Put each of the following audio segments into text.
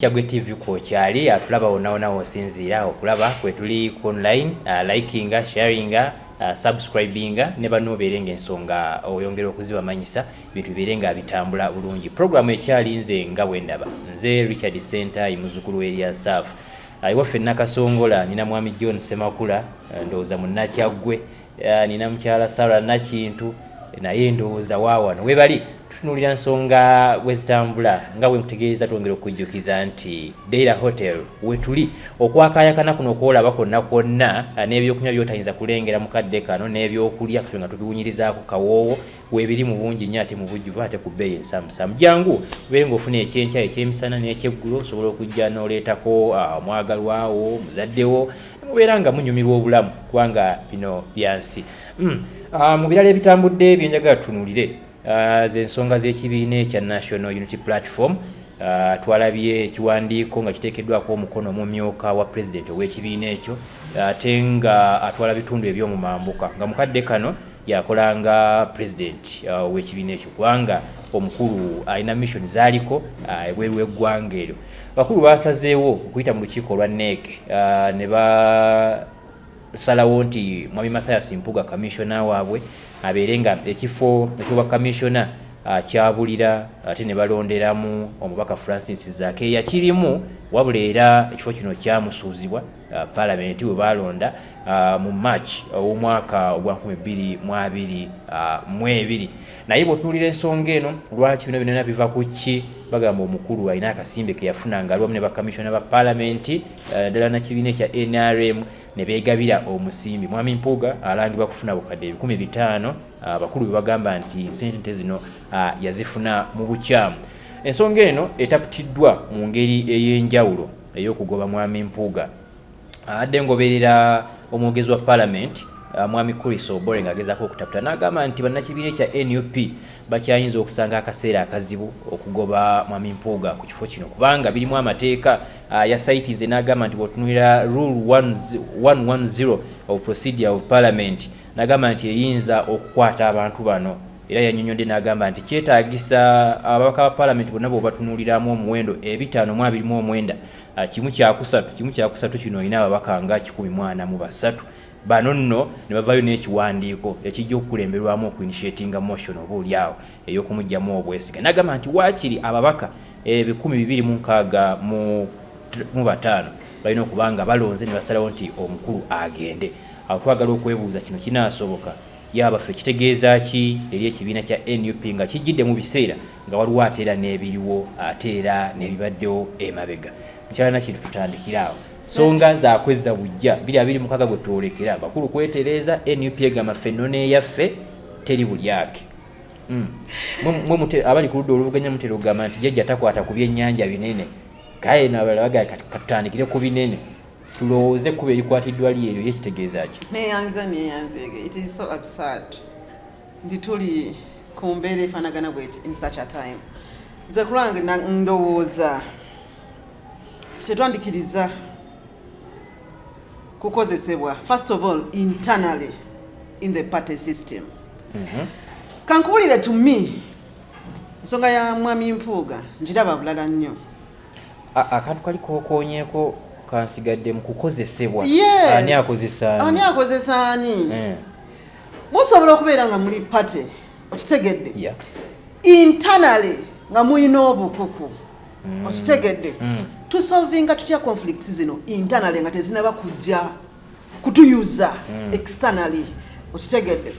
Kyagwe TV kwokyali atulaba wonaona wosinziira okulaba kwetuli ku online uh, likinga sharinga uh, subscribinga ne banno obeere nga ensonga oyongera okuzibamanyisa bintu bibeere nga bitambula bulungi programu ekyali nze nga bwendaba nze richard center imuzukulu eria saf uh, iwaffe nakasongola nina mwami john semakula uh, ndowooza munnakyaggwe nina mukyala sara nakintu naye ndowooza waawano webali tutunuulira nsonga bwe zitambula nga bwe nkutegeeza twongera okujjukiza nti daira hotel wetuli okwakayakana kuno okwolaba kwonna kwonna ah, n'ebyokunywa byotayinza kulengera mu kadde kano n'ebyokulya ffe nga tubiwunyirizaako kawoowo webiri mu bungi nnyo ate mu bujjuvu ate ku bbeeyi ensamusamu jangu obeere ng'ofuna ekyenkya ekyemisana n'ekyeggulo osobola okujja n'oleetako ah, omwagalwawo muzaddewo mubeera nga munyumirwa obulamu kubanga bino byansi hmm. ah, mu birala ebitambudde byenjagala tunuulire ah, zensonga z'ekibiina ekya national unity platform Uh, twalabye ekiwandiiko nga kiteekeddwako omukono omumyuka wa pulezidenti ow'ekibiina ekyo ate uh, nga atwala bitundu eby'omumambuka nga mukadde kano yakola nga pulezidenti uh, ow'ekibiina ekyo kubanga omukulu alina mission zaaliko ebweru w'eggwanga eryo Abakulu baasazeewo okuyita mu lukiiko olwa NEC uh, ne basalawo nti Mwami Mathias Mpuga kamissiona waabwe abeere nga ekifo ekyobwa kamissiona uh, kyabulira ate ne balonderamu omubaka Francis Zaake yakirimu wabula era ekifo kino kyamusuuzibwa Uh, palamenti we baalonda uh, mu march ow'omwaka ogwa 2022 uh, naye bw'otunuulira ensonga eno lwaki bino binona biva ku ki bagamba omukulu alina akasimbe ke yafuna nga aliwamu ne bakamisiona ba palamenti ddala na kibiina ekya nrm ne beegabira omusimbi mwami mpuuga alangibwa kufuna bukadde ebikumi bitaano abakulu be bagamba nti nsente zino yazifuna mu bukyamu ensonga eno etaputiddwa mu ngeri ey'enjawulo ey'okugoba mwami Mpuuga adde ngoberera omwogezi wa palamenti uh, mwami Chris Obore ng'agezaako okutaputa n'agamba nti bannakibiina ekya nup bakyayinza okusanga akaseera akazibu okugoba mwami Mpuuga ku kifo kino kubanga birimu amateeka uh, ya saitize n'agamba nti bwotunulira rule 110 of procedure of parliament n'agamba nti eyinza okukwata abantu bano Era yanyonyodde n'agamba nti kyetaagisa ababaka ba palamenti bonna bwebatunuuliramu omuwendo ebitaano mu abiri mu omwenda ah, kimu kyakusatu kimu kyakusatu kino olina ababaka nga kikumi mwana mu basatu bano nno ne bavaayo n'ekiwandiiko ekijja okukulemberwamu okuinishetinga motion oba oli awo ey'okumugyamu obwesiga n'agamba nti waakiri ababaka ebikumi bibiri mu nkaaga mu bataano balina okuba nga balonze ne basalawo nti omukulu agende awo twagala okwebuuza kino kinaasoboka Ya baffe kitegeeza ki eri ekibiina kya nup nga kijjidde mu biseera nga waliwo ate era n'ebiriwo ate era n'ebibaddewo emabega mukyala nakintu tutandikira awo songa zakwezza bujja biri abiri mukaga gwe twolekera bakulu kwetereeza nup egamba ffe nona eyaffe teri bulyake hmm. abali ku ludda oluvuganya mutera okugamba nti jajja takwata ku byennyanja binene kaye nabalala bagaa katutandikire ku binene tulowooze kuba erikwatiddwa lyeeryo ye kitegeeza ki neyanza neyanzeege it is so absurd nti tuli ku mbeera efanagana bweti in such a time nze kulwange ndowooza tetwandikiriza kukozesebwa first of all internally in the party system mm -hmm. kankubulire to me ensonga ya mwami mpuuga njiraba bulala nnyo akantu kali kokonyeko kansigadde mu kukozesebwa ani akozesa ani akozesa ani eh. musobola okubeera nga muli pate okitegedde yeah. internally nga mulina obukuku mm. okitegedde mm. tusolvinga tutya conflict zino internally nga tezinaba kujja kutuyuza mm. externally okitegedde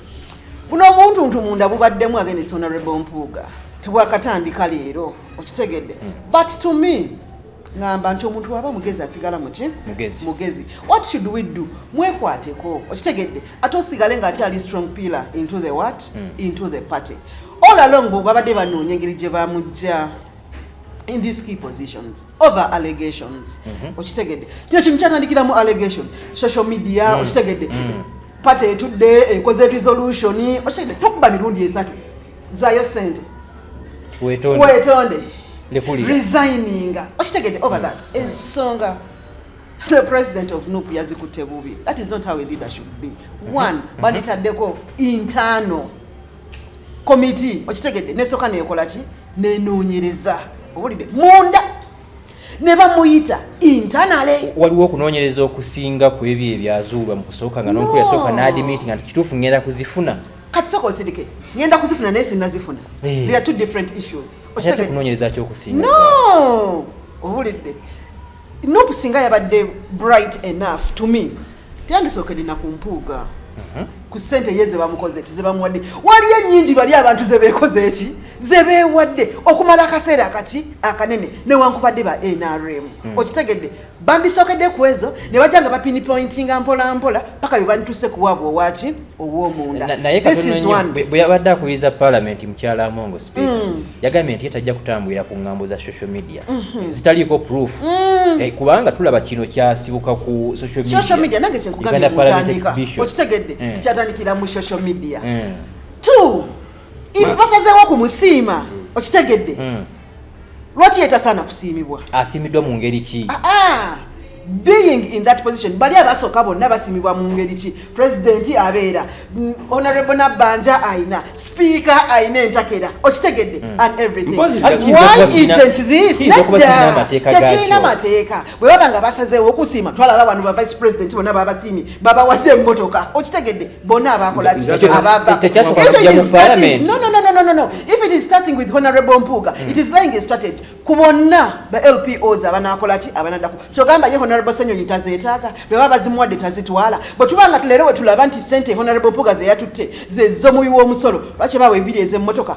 buno omuntuntu munda bubaddemu against honorable mpuuga tebwakatandika leero okitegedde mm. but to me ngamba nti omuntu waba mugezi asigala muki mugezi. mugezi what should we do mwekwateko okitegedde ate osigale nga akyali strong pillar into the what mm. into the party all along bwebabadde banoonya engeri gye bamujja in these key positions over allegations mhm. okitegedde kino kintu kyatandikiramu allegation social media mm. okitegedde mm. pate etudde ekoze resolution okitegedde tokuba mirundi esatu zayo sente wetonde resigninga okitegedde over mm. that ensonga the president of nup yazikutte bubi that is not how a leader should be mhm. one mhm. banditaddeko internal committee okitegedde nesoka nekolaki nenoonyereza owulidde munda ne bamuyita intanale waliwo okunoonyereza okusinga ku ebyo ebyazuulwa mu kusooka nga nonkulu yasooka n'adimiitinga nti kituufu ngenda kuzifuna kati sooka osindike ngenda kuzifuna naye sinnazifuna eh. there are two different issues okunoonyereza kyokusinga no owulidde Nup singa yabadde bright enough to me teyandisookedde na ku mpuuga mhm. ku ssente ye zebamukoze ki zebamuwadde waliyo ennyingi bali abantu zebeekoze eki zebeewadde okumala akaseera akati akanene newankubadde ba nrm hmm. okitegedde bandisookedde ku ezo ne bajja nga bapini pointinga mpolampola paka bye bandituuse kuwaabwa owaki naye bwe yabadde akubiriza palamenti mukyala amongo speaker mm. yagambye nti ye tajja kutambulira ku ngambo za social media mm-hmm. zitaliiko proof mm. eh, kubanga tulaba kino kyasibuka ku social media nange kyenkugambye mutandika okitegedde eh. kikyatandikira mu social media eh. two if basazeewo ku musiima mm. okitegedde lwaki yetasaana kusiimibwa asiimiddwa mu ngeri ki ah, ah. being in that position bali abasooka bonna basimibwa mu ngeri ki pulezidenti abeera mm, honorable nabbanja ayina sipiika ayina entakera okitegedde mm. and everything why isn't this nedda tekirina mateeka bwe baba nga basazeewo okusiima twalaba bano ba vice president bonna babasiimye babawadde emmotoka okitegedde bonna abaakola ki if it is starting with honorable mpuuga mm. it is lying a strategy ku bonna ba lpos abanaakola ki abanadako kyogamba ye honorable senyonyi tazeetaaga bwe baba bazimuwadde tazitwala bwe tuba nga leero we tulaba nti sente honorable mpuuga zeyatutte zezomuwi w'omusolo lwaki baawa ebiri ez'emmotoka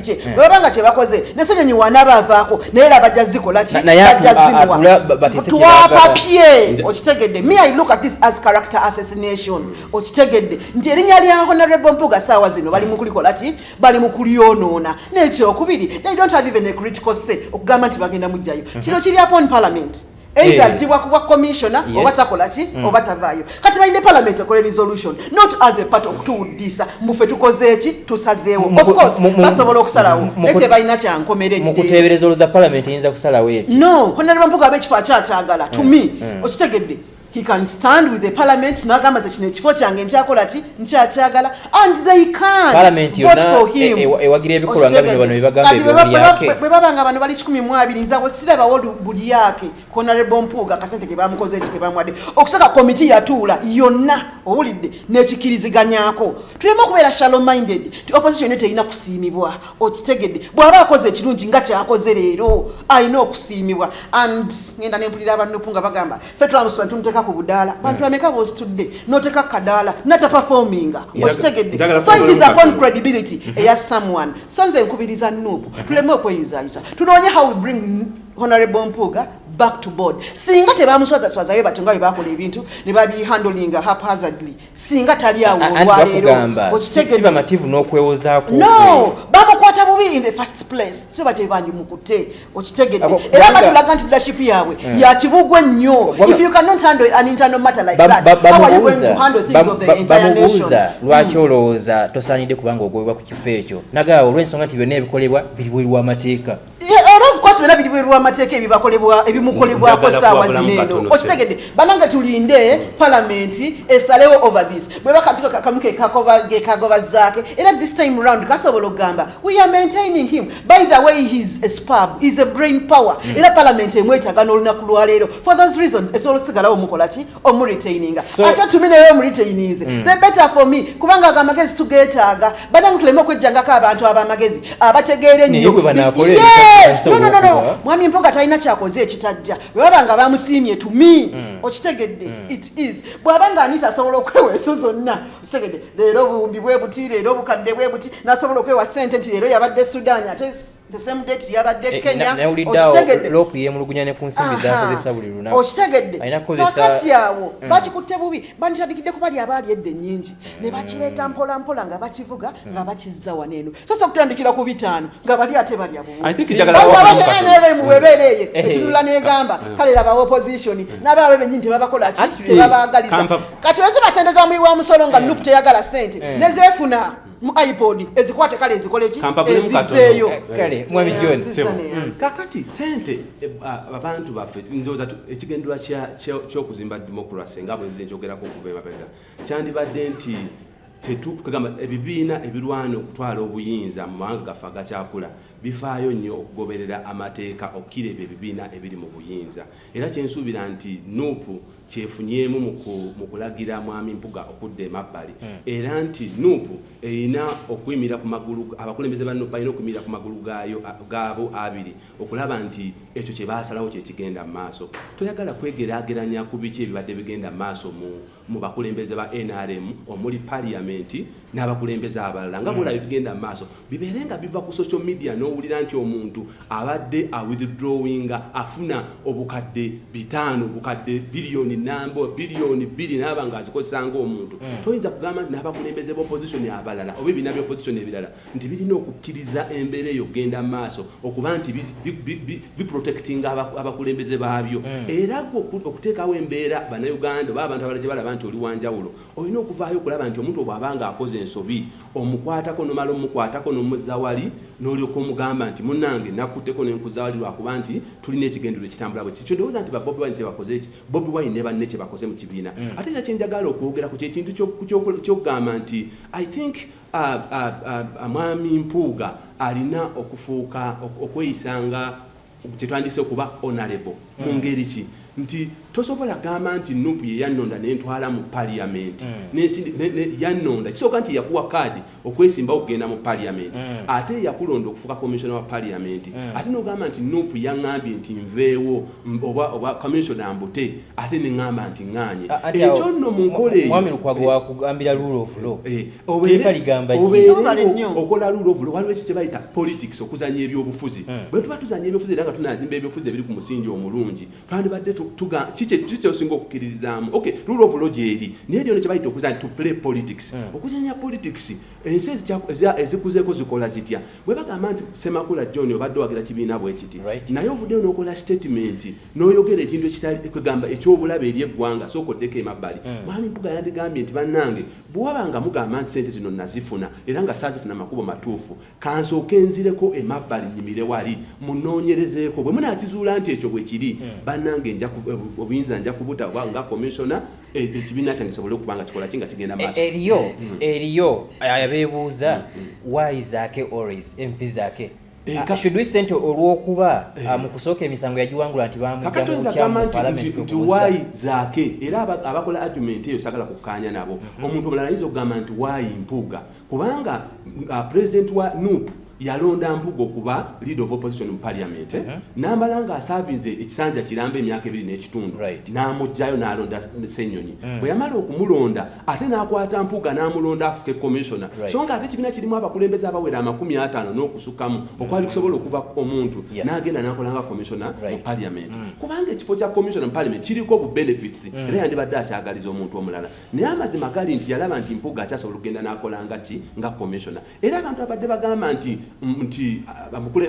kye eh. bwebaba nga kyebakoze nesenyonyi wanabavaako naye ra bajja zikola ki bajja zimuwa twapapye okitegedde me i look at this as character assassination hmm. okitegedde nti erinnya lya honorable mpuga saawa zino bali mukulikola ki bali mukulyonoona nekyokubiri they don't have even a critical say okugamba nti bagenda mujjayo hmm. kino kiri upon parliament either eh. ajibwa kubwa commissioner yes. oba takola ki mm. oba tavaayo kati balinde parliament ekole resolution not as a part of tuwuddisa mbufe tukoze eki tusazeewo of course basobola okusalawo naye tebalina kyankomeredde mu kuteebereza oluza parliament eyinza kusalawo eti no honaleba mpuga aba ekifo akyakyagala to mm. me mm. okitegedde he can stand with the parliament nagamba ze kino ekifo kyange nkyakola ki nkyakyagala and they can parliament vote for him e, e, ewagira ebikolwa nga bino bano bibagamba ebyo yake bwe baba nga bano bali 12 nza wo sira bawo buli yake kona rebo mpuga kasente ke bamukoze ekike bamwade okusaka committee yatuula yonna owulidde nekikiriziganyako tulema okubeera shallow minded ti opposition yo terina kusiimibwa okitegedde bw'aba akoze ekirungi nga kyakoze leero alina okusiimibwa and ngenda nempulira abanupu nga bagamba ffe tulamusula tumuteeka ku budaala hmm. bantu ameka bositudde noteeka kadaala nata performinga okitegedde so it is upon credibility hmm. eya someone so nze nkubiriza nup hmm. tuleme okweyuzayuza tunoonye how we bring honorable mpuuga back to board singa tebamuswazaswazayo batyo nga bwe bakola ebintu ne babihandlinga haphazardly singa tali awo olwaleerookitegeesi bamativu n'okwewozaako no bamukwata bubi in the first place so bate bandimukute okitegedde era batulaga nti leadership yaabwe hmm. yakibugwa ennyo if you cannot handle an internal matter like that how are you going to handle things of the entire nation lwaki hmm. olowooza tosaanidde kubanga ogobebwa ku kifo ekyo nagaawo olw'ensonga nti byonna ebikolebwa biri bweru w'amateeka era of course byona biri bweru wamateeka ebibakolebwa ebimukolebwako saawa zineeno okitegedde banange tulinde palamenti esalewo over this bwebakatuka kakamu kekagoba zaake era this time round kasobola okugamba we are maintaining him by the way his a spab is a brain power mm. era palamenti emwetaga n'olunaku lwaleero for those reasons esobola osigalawo mukolaki omuritaininga so, ate tumi naye omuritaininze mm. the better for me kubanga ago amagezi tugetaaga banange tuleme okwejjangako abantu abamagezi abategeera ennyononono mwami mpoga talina kyakoze ekitajja bwebaba nga bamusiimye tumi mm. okitegedde mm. it is bwaba nga anita asobola okwewa eso zonna okitegedde leero obuwumbi bwe buti leero obukadde bwe buti nasobola okwewa sente nti leero yabadde sudan ate the same date yabadde eh, Kenya okitegedde lock yemulugunya ne kunsimbi zakozesa buli lunaku okitegedde kakati awo mm. bakikutte bubi banditandikidde kuba lyabaali edde nyingi ne mm. bakireeta mpola mpola nga bakivuga mm. nga bakizza wano eno so so kutandikira ku bitaano nga bali ate balya bubuiabanrm webeera eyo etunula eh, eh, negamba eh. kale laba opposition nabaabwe benyini tebabakola ki tebabaagaliza kati weziba sente za muyi wa musolo nga nup teyagala sente nezefuna mu ipod ezikwate kale ezikole ki ezizeeyo eh, kale mwami john mm. kakati sente eh, abantu baffe ndoza ekigendera kya kyokuzimba democracy nga bwe nzize njogerako okuva emabega kyandibadde nti tetukugamba ebibiina ebirwana okutwala obuyinza mu mawanga gaffe agakyakula bifaayo nnyo okugoberera amateeka okukira ebyo ebibiina ebiri mu buyinza era kyensuubira nti nup kyefunyeemu mu kulagira mwami mpuga okudda emabbali hmm. era nti nup erina okuyimirira ku magulu abakulembeze ba nup balina okuyimirira ku magulu gaayo gaabo abiri okulaba nti ekyo kye baasalawo kye kigenda mu maaso toyagala kwegeraageranya ku biki ebibadde bigenda mu maaso mu mu bakulembeze ba nrm omuli paliyamenti n'abakulembeze abalala nga bwolaba ebigenda mu maaso bibeere nga biva ku social media n'owulira nti omuntu abadde awithdrawinga afuna obukadde bitaano obukadde biliyoni namba biliyoni bbiri naaba nga azikozesa ngaomuntu mm. toyinza kugamba nti n'abakulembeze b'opposition abalala oba ebiina by'opposition ebirala nti birina okukkiriza embeera eyo okugenda mu maaso okuba nti biprotectinga abakulembeze baabyo hmm. era gwe okuteekawo embeera bannayuganda oba abantu abala gye balaba nti oli wanjawulo olina okuvaayo okulaba nti omuntu obwaba nga akoze ensobi omukwatako nomala omukwatako nomuzawali nolyoka omugamba nti munange nakutteko nenkuzawali lwakuba nti tulina ekigendero ekitambula bwe kikyo ndowooza nti babobi wine kyebakoze eki bobi wine ne banne kyebakoze mu kibiina hmm. ate kya kyenjagala okwogera ku kyekintu kyokugamba nti i think Mwami Mpuuga alina okufuuka okweyisa nga kyetwandise okuba honorable mu mm. ngeri ki nti tosobola gamba nti nup yeyannonda nentwala mu parliament mm. yannonda kisooka nti yakuwa kaadi okwesimbawo okugenda mu parliament mm. ate yakulonda okufuka commissiona wa parliament ate nogamba nti nup yaŋambye nti nveewo oba oba commissioner mbute ate ne ngamba nti nganye ekyo nno mu nkola eyo mwami lukwago eh. wakugambira rule of law eh. obeera ligamba nnyo okola rule of law waliwo ekyo kyebayita politics okuzanya ebyobufuzi hmm. bwe tuba tuzanya ebyobufuzi era nga tunazimba ebyobufuzi ebiri ku musingi omulungi twandibadde kikyosinga okukkiririzaamu ok rule of law gyeri naye lyona kyebayita okuzanya to play politics hmm. okuzanya politics ensi ezikuzeeko zikola zitya bwe bagamba nti semakula john obadde owagira kibiina bwe kiti naye ovuddeyo n'okola sitatimenti n'oyogera ekintu ekitakwegamba eky'obulabe eri eggwanga sooka oddeko emabbali hmm. mwami mpuga yandigambye nti bannange bwe waba nga mugamba nti sente zino nazifuna era nga saazifuna makubo matuufu kansooka enzireko emabbali nyimire wali munoonyerezeeko bwe munaakizuula nti ekyo bwe kiri hmm. bannange eh, obuyinza nja kubuta oba nga komisona ekibiina kyange kisobole okuba nga kikola ki nga kigenda e, maaso eriyo mm. eriyo abeebuuza mm, mm. why zaake always mp zaake Eh, ah, should we sente olwokuba eh. ah, mu kusooka emisango yagiwangula nti bamujamukyamupalamenti wayi zaake era abakola argument eyo sagala kukkaanya nabo mhm. omuntu omulala ayinza okugamba nti wayi mpuuga kubanga uh, president wa nup yalonda mpugo kuba lead of opposition mu parliament eh? uh-huh. namala nga asavinze ekisanja kiramba emyaka ebiri n'ekitundu right. namugjayo nalonda senyonyi mm. bwe yamala okumulonda ate nakwata mpuga namulonda afuke commissioner right. so nga ate ekibiina kirimu abakulembeze abawera amakumi atano n'okusukamu mm. okwali kusobola okuva omuntu yeah. nagenda nakolanga commissioner right. mu parliament mm. kubanga ekifo kya commissioner mu parliament kiriko bu benefits mm. era yandibadde akyagaliza omuntu omulala naye amazima gali nti yalaba nti mpuga akyasobola okugenda nakola nga ki nga commissiona era abantu abadde bagamba nti nti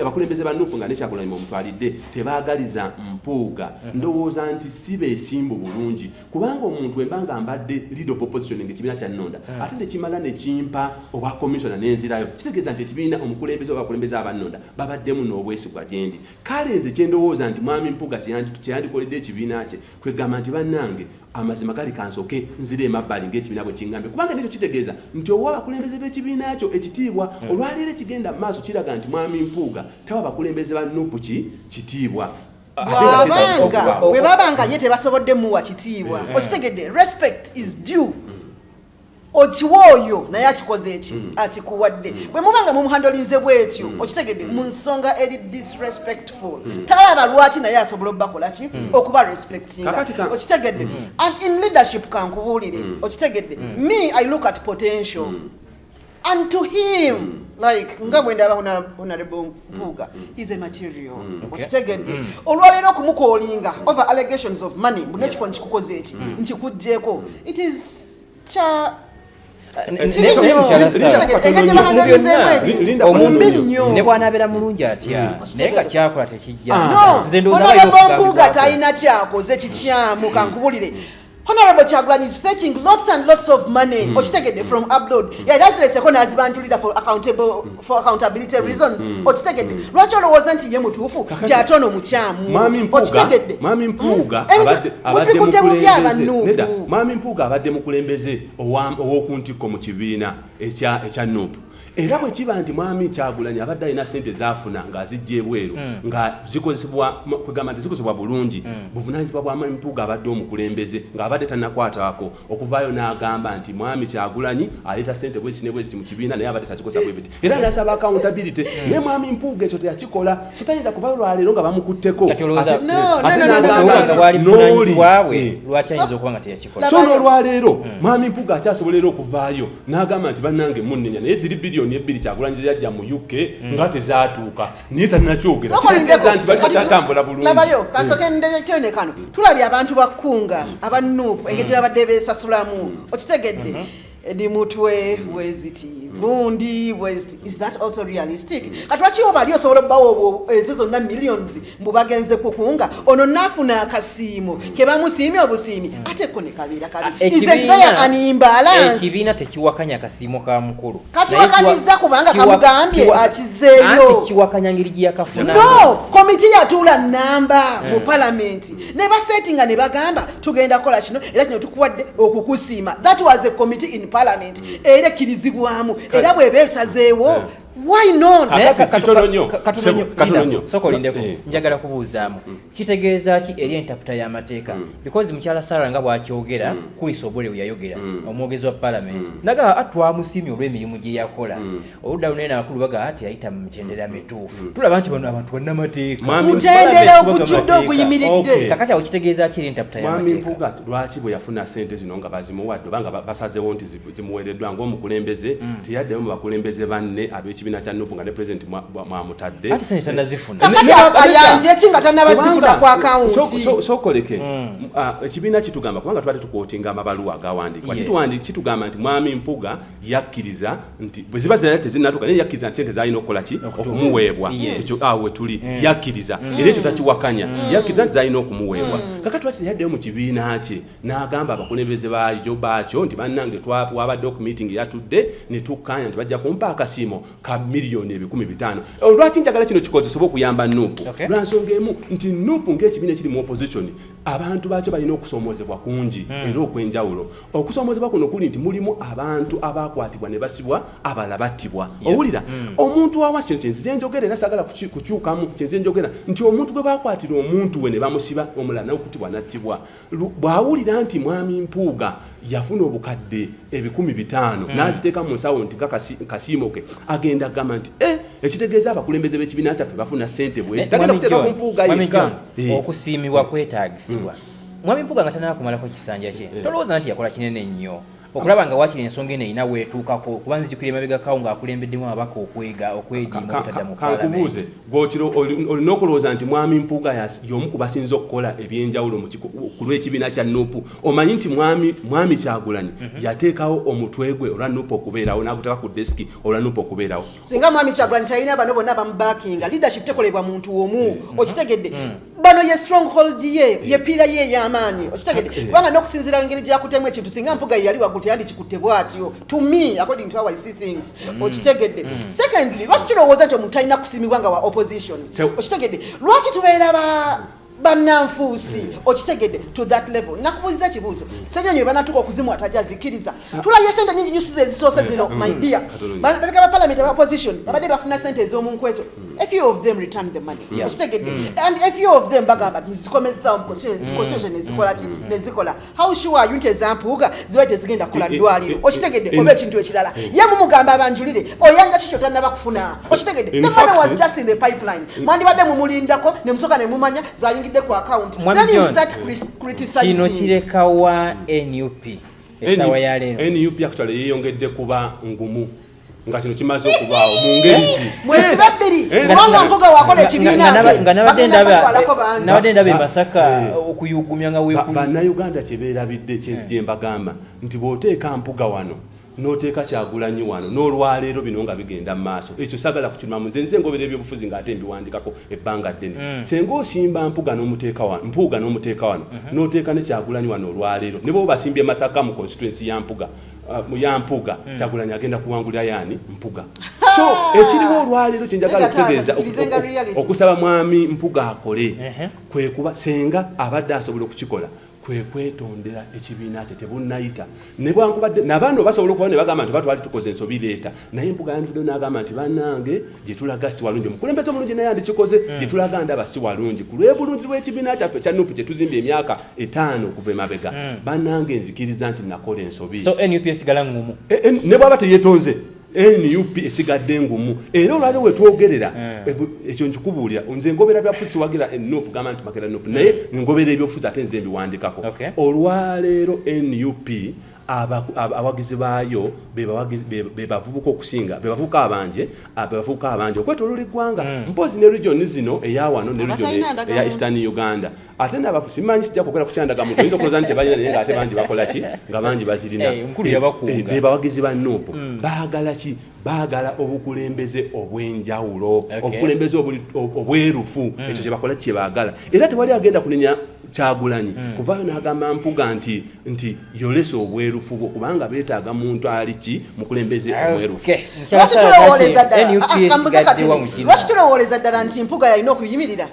abakulembeze ba nupu nga nekyakulanyuma omutwalidde tebagaliza mpuuga mhm. ndowooza nti si besimbu bulungi kubanga omuntu emba nga mbadde lead of opposition nga ekibiina kyannonda mhm. ate nekimala nekimpa obwa commissiona nenzirayo kitegeeza nti ekibiina omukulembeze obakulembeze abannonda babaddemu n'obwesigwa gyendi kale nze kyendowooza nti mwami mpuga kyeyandikoledde ekibiina kye kwegamba nti bannange Amazima gali kansoke nzire emabbali ng'ekibiina bwe kingambye kubanga nekyo kitegeeza nti owa abakulembeze b'ekibiina kyo ekitiibwa hmm. olwaleero ekigenda mu maaso kiraga nti mwami Mpuuga tawa bakulembeze ba nupu ki kitiibwa bwabanga bwe babanga ye tebasobodde muwa kitiibwa eh. okitegedde respect is due okiwa oyo naye akikoze eki mm. akikuwadde mm. bwe muba nga mumuhandolinze bwetyo mm. okitegedde mu nsonga eri disrespectful talaba lwaki naye asobola obubakola ki okuba respectinga okitegedde and in leadership kankubuulire okitegedde me i look at potential and to him mm. like nga bwendaba honorable mm. mpuuga mm. is a material mm. okitegedde olwaleero okumukolinga over allegations of money mbu nekifo nkikukoze eki nkikugyeko it is kya ne bwanabeera mulungi atya naye nga kyakola tekijjanze ndowooza talina kyakoze kikyamu kankubulire honorable kyagulanyi is fetching lots and lots of money mm. okitegedde from upload mm. yagazireseko nazibanjulira for accountable mm. for accountability mm. reasons mm. okitegedde mm. lwaki olowooza nti ye mutuufu kyate ono mukyamu okitegedde mami mpuuga mpuuga abadde mukulembeze owokuntikko mu kibiina ekya nup era bwe kiba nti mwami kyagulanyi abadde alina sente zafuna ng'azijja ebweru hmm. nga zikozesebwakugamba nti zikozesebwa bulungi hmm. buvunanyizibwa bwa mwami mpuuga abadde omukulembeze ng'abadde tanakwatako okuvaayo n'agamba nti mwami kyagulanyi aleeta sente bweziti ne bweziti mu kibiina naye abadde takikozesa bwebiti era nasaba accountability hmm. naye mwami mpuuga ekyo teyakikola so tayinza kuvayo lwaleero nga bamukutteko ate nagamba nti nooli so n'olwaleero hmm. mwami mpuga akyasobola era okuvaayo n'agamba nti bannange munnenya naye ziri biliyoni ebbiri kyagulanyi zeyajja mu uk hmm. nga tezaatuuka naye tanakyogeraaza nti bali tatambula bulungilabayo hmm. kasoke ndetene kano tulabye abantu bakkunga aba nuupu engeri gye babadde beesasulamu okitegedde mm-hmm. Edi mutwe bweziti gundi bweziti is that also realistic kati lwaki oba ali osobola okubawo ezo zonna millions mbu bagenze kukunga ono nafuna akasiimo ke bamusiimye obusiimi ate ko ne kabeera kabiiekibiina tekiwakanya kasiimo ka mukulu kakiwakanyiza kubanga kamugambye akizeeyo kiwakanya ngeri gye yakafuna no komiti yatuula namba mu eh. palamenti ne basetinga ne bagamba tugenda kola kino era kino tukuwadde okukusiima that was a committee in parliament mm. era ekkirizibwamu era bweba esazeewo why notkatulonyosokolindeko eh. njagala kubuuzaamu mm. kitegeeza ki eri entaputa y'amateeka mm. because mukyala sara nga bwakyogera kuyisa obole weyayogera omwogezi wa parliament nagamba atwamusiimye ah, olw'emirimu gye yakola oludda luno eno akulu baga ati ayita mu mitendera mituufu mm. tulaba nti bano abantu bannamateekamutendera ogujjudde oguyimiridde kakati awo kitegeeza kiri ntaputa yamwami mpuga lwaki bwe yafuna sente zino nga bazimuwadde obanga basazewo nti zimuweereddwa ngaomukulembeze mm. teyaddeyo mu bakulembeze banne ab'ekibiina kya nupu nga ne pulezidenti mwamutadde ati sente tanazifuna ayanjeki nga tanabazifuna ku akawuntisookoleke mm. ah, ekibiina kitugamba kubanga twali tukwotinga amabaluwa agawandiikwa kitugamba nti mwami mpuga yakkiriza nti bwe ziba zirala tezinnatuuka naye yakkiriza nti ente zalina okukola ki okumuweebwa ekyo awo we tuli mm. yakkiriza mm. era ekyo takiwakanya mm. yakkiriza nti zalina okumuweebwa kaka twaki teyaddeyo mu kibiina kye n'agamba abakulembeze bayo baakyo nti bannange twabadde oku meeting yatudde ne tukkaanya nti bajja kumpa akasiimo ka miliyoni ebikumi bitaano eh, lwaki njagala kino kikozesebwa okuyamba nuupu lwa nsonga emu nti nuupu ng'ekibiina ekiri mu opposition abantu baakyo balina okusoomoozebwa kungi era okwenjawulo okusomozebwa kuno kuli nti mulimu abantu abakwatibwa ne basibwa abalala battibwa owulira mm. omuntu wawa kino kyenzize njogera era sagala kukyukamu kyenzize njogera nti omuntu gwe bakwatira omuntu we ne bamusiba omulala nawe kutibwa nattibwa bw'awulira nti mwami mpuuga yafuna obukadde ebikumi bitaano mm. n'aziteeka mu nsawo nti kasiimo ke agenda kugamba nti e ekitegeeza abakulembeze b'ekibiina kyaffe bafuna ssente bwezi eh, tagenda kuteeka ku mpuuga yekka eh. okusiimibwa kwetaagisibwa mm. Mwami Mpuga nga tanaba kumalako kisanja kye. Eh. Tolowooza nti yakola kinene nnyo. Okulaba nga wakiri ensonga eno erina weetuukako kuba nzijukira emabega kawo ng'akulembeddemu ababaka okwega okwediima okutadda mu kankubuuze gwokiro olina okulowooza nti mwami mpuuga y'omu ku basinza okukola ebyenjawulo ku lw'ekibiina kya nupu omanyi nti mwami mwami kyagulanyi mhm. yateekawo omutwe gwe olwa nupu okubeerawo n'aguteka ku desiki olwa nupu okubeerawo singa mwami kyagulanyi talina bano bonna bamubakinga leadership tekolebwa muntu omu mm. okitegedde mm. bano ye stronghold ye eh. ye pira ye yamaanyi okitegede eh. kubanga nokusinzira ngeri gyakutemu ekintu singa mpuga yeyali waggulu teyandikikutte bwatyo to me according to how i see things mm. okitegedde mm. secondly lwaki tulowooza nti omuntu talina kusiimibwa nga wa opposition okitegedde lwaki tubeera ba bananfuusi okitegedde to that level nakubuuziza ekibuuzo senyonyo banatuka okuzimwa tajazikiriza tulabye sente nyingi nyusi zezisoose zino mm. my dear mm. babeka ba parliament aba opposition mm. babadde bafuna sente ez'omu nkweto a few of them return the money okitegedde and a few of them bagamba nzikomezzawo mu constitution ezikola ki nezikola how sure are you nti ezampuuga ziba tezigenda kukola eh, eh, ddwaliro eh, okitegedde oba ekintu ekirala ye mumugamba abanjulire oyanga kikyo tannaba kufuna okitegedde the money was just in the pipeline mwandibadde mumulindako ne musooka ne mumanya zayingidde ku account then you start criticizing kino kirekawa nup esawa ya lero nup actually yeyongedde kuba ngumu nga kino kimaze okubaawo mu ngeri zi eh, mwesiba bbiri eh, kubanga eh, mpuga wakola ekibiina nga nabadde ndaba emasaka okuyugumya nga wekuli bannayuganda kyebeerabidde kyensi gye mbagamba nti bw'oteeka mpuga wano noteeka kyagulanyi wano n'olwaleero bino nga bigenda mu maaso ekyo sagala kukimamu nze nze ngobera ebyobufuzi ng'ate mbiwandikako ebbanga ddene mm. senga osimba mpuga nomuteeka wano mpuuga nomuteeka wano mm -hmm. noteeka ne kyagulanyi wano olwaleero ne bwoba basimbye masaka mu constituency ya mpuga uh, mu ya mpuga mm. kyagulanyi agenda kuwangulira yani mpuga so ekiriwo olwaleero kyenjagala okutegeeza okusaba mwami mpuga akole uh -huh. kwekuba senga abadde asobola okukikola kwe kwetondera ekibiina kye tebunnayita nebwankubadde nabaana obasobola okuba ne bagamba nti batwali tukoze ensobi leeta naye mpuga yandivudeyo n'agamba nti banange gye tulaga si walungi omukulembeze omulungi naye andikikoze hmm. gye tulaga ndaba si walungi ku lwebulungi lw'ekibiina kyaffe ekya nup kye tuzimbye emyaka etaano okuva emabega hmm. banange nzikiriza nti nakola ensobi so nup esigala ngumu eh, eh, ne bwaba teyetonze nup esigadde ngumu era olwali wetwogerera eh. ekyo nkikubuulira nze ngobera byafusi wagira enup gamba nti makera nup naye eh. ngobera ebyofuzi ate nze mbiwandikako olwaleero nup abawagizi baayo bebavubuka okusinga bebavubuka abanje bebavubuka abanje okwetolula eggwanga hmm. mpozi ne region zino eyawano ne region eya eastern uganda ate nabafu simanyi sijja kwogera kukyandaga muntu oyinza okuloza nti tebalina naye nga ate bangi bakola ki nga bangi bazirina eh, eh, eh, be bawagizi ba nuupu hmm. baagala ki baagala obukulembeze obw'enjawulo obukulembeze obwerufu hmm. ekyo kyebakola kyebaagala era tewali agenda kunenya kyagulanyi hmm. kuvaayo n'agamba mpuga nti nti yolesa obwerufu bwo kubanga beetaaga muntu ali ki mukulembeze obwerufu lwaki tulowooleza ddala nti mpuga yalina okuyimirira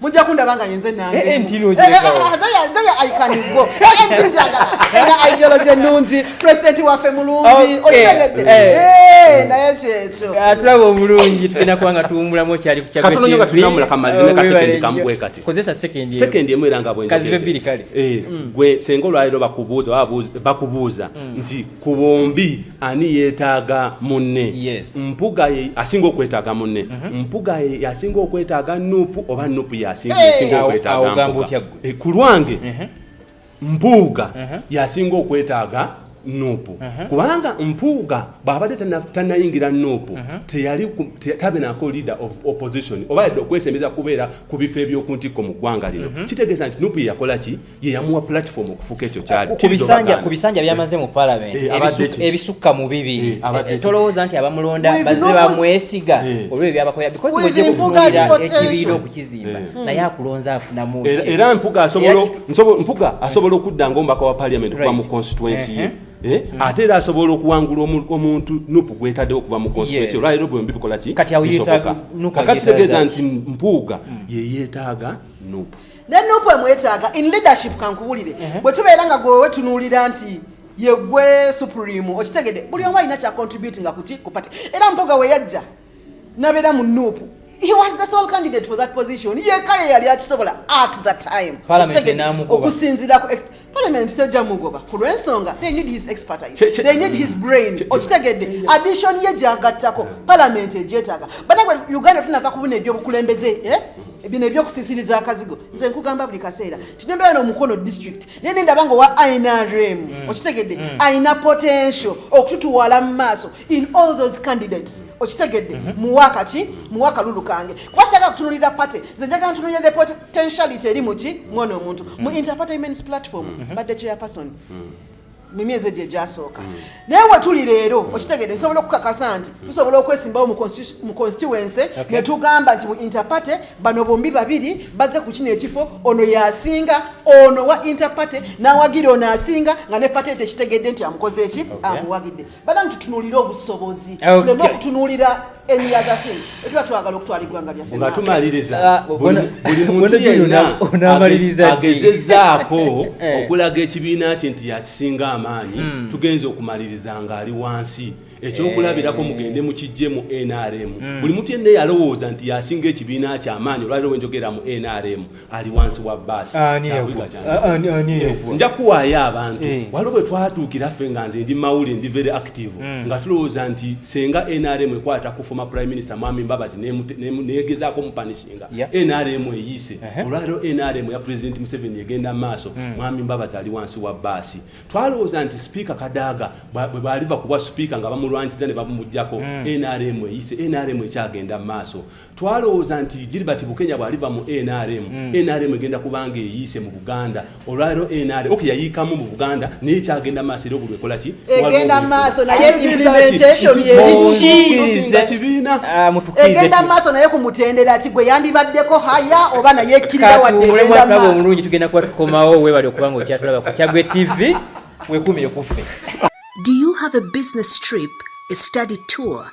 mujja kundaba nga yenze nangeaikanigo njagala ena ideology ennungi president waffe mulungi okitegedde naye kyekyo tulaba obulungi tugenda kuba nga tuwumulamu okyali kukozesa sekendi emu era nga bwenkazibe bbiri kale gwe senga olwaleero bakubuuza bakubuuza nti ku bombi ani yeetaaga munne yes. mpuga ye asinga okwetaaga munne mm -hmm. mpuga ye yasinga okwetaaga nupu oba nupu yasinga hey, okwetaaga mpuga e, ku lwange mm -hmm. mpuuga mm -hmm. yasinga okwetaaga nupu uh mhm. -huh. kubanga mpuuga bwabadde tanayingira nupu uh mhm. -huh. teyali te, tabenako leader of opposition oba yadde okwesembeza kubeera ku bifo ebyokuntikko mu ggwanga lino uh mhm. -huh. kitegeeza nti nupu yeyakola ki ye yamuwa platform okufuka ekyo kyali kubisanja kubisanja byamaze mu parliament eh, ebisukka mu bibiri eh, eh, tolowooza nti abamulonda bazze bamwesiga olwo ebyabakolera because bwojja kutunuulira ekibiina okukizimba naye akulonza afunamu era mpuga asobola mpuga asobola okudda ngaomubaka wa parliament okuba mu constituency ye uh-huh. Eh? Mm. ate era asobola okuwangula omuntu nupu gwetadewo okuva mu constituency olwaliro bwembi bikolaki bisoboka kakati tegeeza nti mpuuga mm. yeyetaaga nupu ne nupu emwetaaga in leadership kankubulire uh -huh. bwe tubeera nga gwe wetunuulira nti yegwe supreme okitegede buli omu alina kya contribute nga kuti ku party era mpoga we yajja nabeera mu nupu he was the sole candidate for that position yeka ye yali akisobola at the time okusinzira ku Parliament tejja mugoba ku lw'ensonga they need his expertise che, che, they need his brain okitegedde addition ye gyagattako parliament egyetaaga banagwe uganda tunava kubuna ebyobukulembeze eh? bino ebyokusisiriza akazigo nze nkugamba buli kaseera tinembeera nomukono district naye nendaba nga owa inrm mm. okitegedde mm. alina potential okututuwala mu maaso in all those candidates okitegedde mm -hmm. muwaka ki muwaka lulu kange kuba sitaka kutunulira party ze njagala ntunulira the potentiality eri muki mwana omuntu mm -hmm. mu mm-hmm. interparty women's platform mm -hmm. badde chairperson mm -hmm mu myezi egyo egyasooka mm. naye wetuli leero mm. okitegede nsobola okukakasa nti mm. tusobola okwesimbawo mu constituency ne tugamba nti mu interparty bano bombi babiri baze ku kino ekifo ono yasinga ono wa interparty n'awagira ono asinga nga ne pate tekitegedde nti amukoze eki amuwagidde banange tutunulire obusobozi tuleme okutunulira any other thing etuba twagala okutwala eggwanga lyaffe nga tumaliriza ah, buli muntu yenna agezezaako eh. okulaga ekibiina kye nti yakisinga amaanyi hmm. tugenza okumaliriza nga ali wansi ekyokulabirako mugende mukijje mu nrm mm. buli mutu yenna yalowooza nti yasinga ekibiina kyamaanyi olwaliro wenjogera mu nrm ali wansi wa baasi ah, ah, eh, nja kuwaayo abantu eh. waliwo bwe twatuukira ffe nga nze ndi mawuli ndi very active hmm. nga tulowooza nti senga nrm ekwata ku former prime minister mwami mbabazi negezaako mupanishinga nrm eyiise uh-huh. olwaliro nrm ya president museveni egenda maaso hmm. mwami mbabazi ali wansi wa baasi twalowooza nti sipiika kadaaga bwe baliva kubwa sipiika nga bamulwanyiza ne bamumugjako nrm hmm. eyiise nrm ekyagenda maaso twalowooza nti Gilbert Bukenya bw'aliva mu NRM mm. NRM egenda kubanga eyiise mu Buganda olwaliro NRM ok yayiikamu mu Buganda naye kyagenda maaso era obuli ekola ki egenda maaso naye implementation yerikiiriza kibiina ah, egenda maaso naye ku mutendera ki gwe yandibaddeko haya oba naye ekkirira wadde egenda maaso omulungi tugenda kuba tukomawo webali okuba nga okyatulaba ku Kyagwe TV wekumire kuffe Do you have a business trip, a study tour,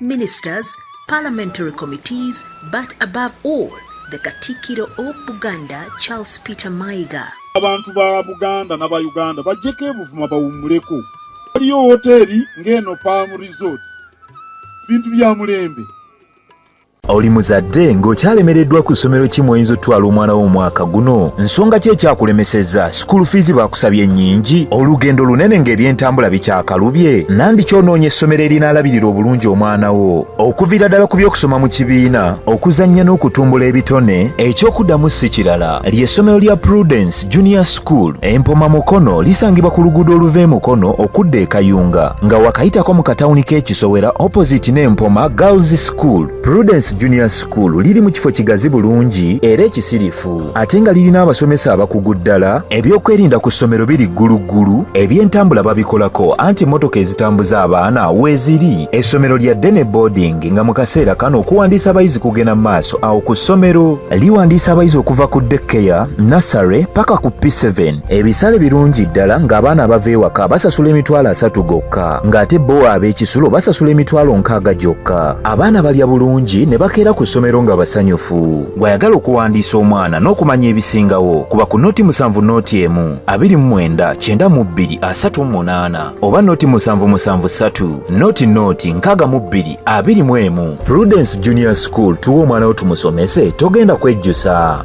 ministers, parliamentary committees, but above all, the Katikiro of Buganda, Charles Peter Maiga. Abantu ba Buganda na ba Uganda bajjeko ebuvuma bawummuleko. Waliyo wooteeri ng'eno Palm Resort. Bintu bya mulembe. oli muzadde ng'okyalemereddwa ku ssomero ki mw'oyinza otutwala omwana wo omwaka guno nsonga ki ekyakulemesezza sikuulu fiizi baakusabye nnyingi olugendo lunene ng'ebyentambula bikyakalubye nandi kyonoonye essomero erinaalabirira obulungi omwana wo okuviira ddala ku by'okusoma mu kibiina okuzannya n'okutumbula ebitone eky'okuddamu si kirala ly'essomero lya prudence junior school empoma mukono lisangibwa ku luguudo oluva e mukono okudda e kayunga nga wakayitako mu katawuni k'ekisowera opposite n'empoma girls School. Prudence Junior School liri mu kifo kigazi bulungi era ekisirifu ate nga lirina abasomesa abakugu ddala. Ebyokwerinda ku ssomero biri gguluggulu, ebyentambula babikolako anti mmotoka ezitambuza abaana weeziri. Essomero lya ddene boarding nga mu kaseera kano okuwandiisa abayizi kugenda mu maaso awo ku ssomero. Liwandiisa abayizi okuva ku daycare, nursery paka ku P7. Ebisale birungi ddala ng'abaana abava ewaka basasula emitwalo asatu gokka ng'ate bo ab'ekisulo basasula emitwalo nkaaga gyokka. Abaana balya bulungi ne bakeera ku ssomero nga basanyufu. Gw'ayagala okuwandiisa omwana n'okumanya ebisingawo kuba ku noti musanvu noti emu, abiri mu mwenda, kyenda mu bbiri, asatu mu munaana oba noti musanvu musanvu ssatu, noti noti nkaaga mu bbiri, abiri mu emu. Prudence Junior School tuwa omwana wo tumusomese togenda kwejjusa.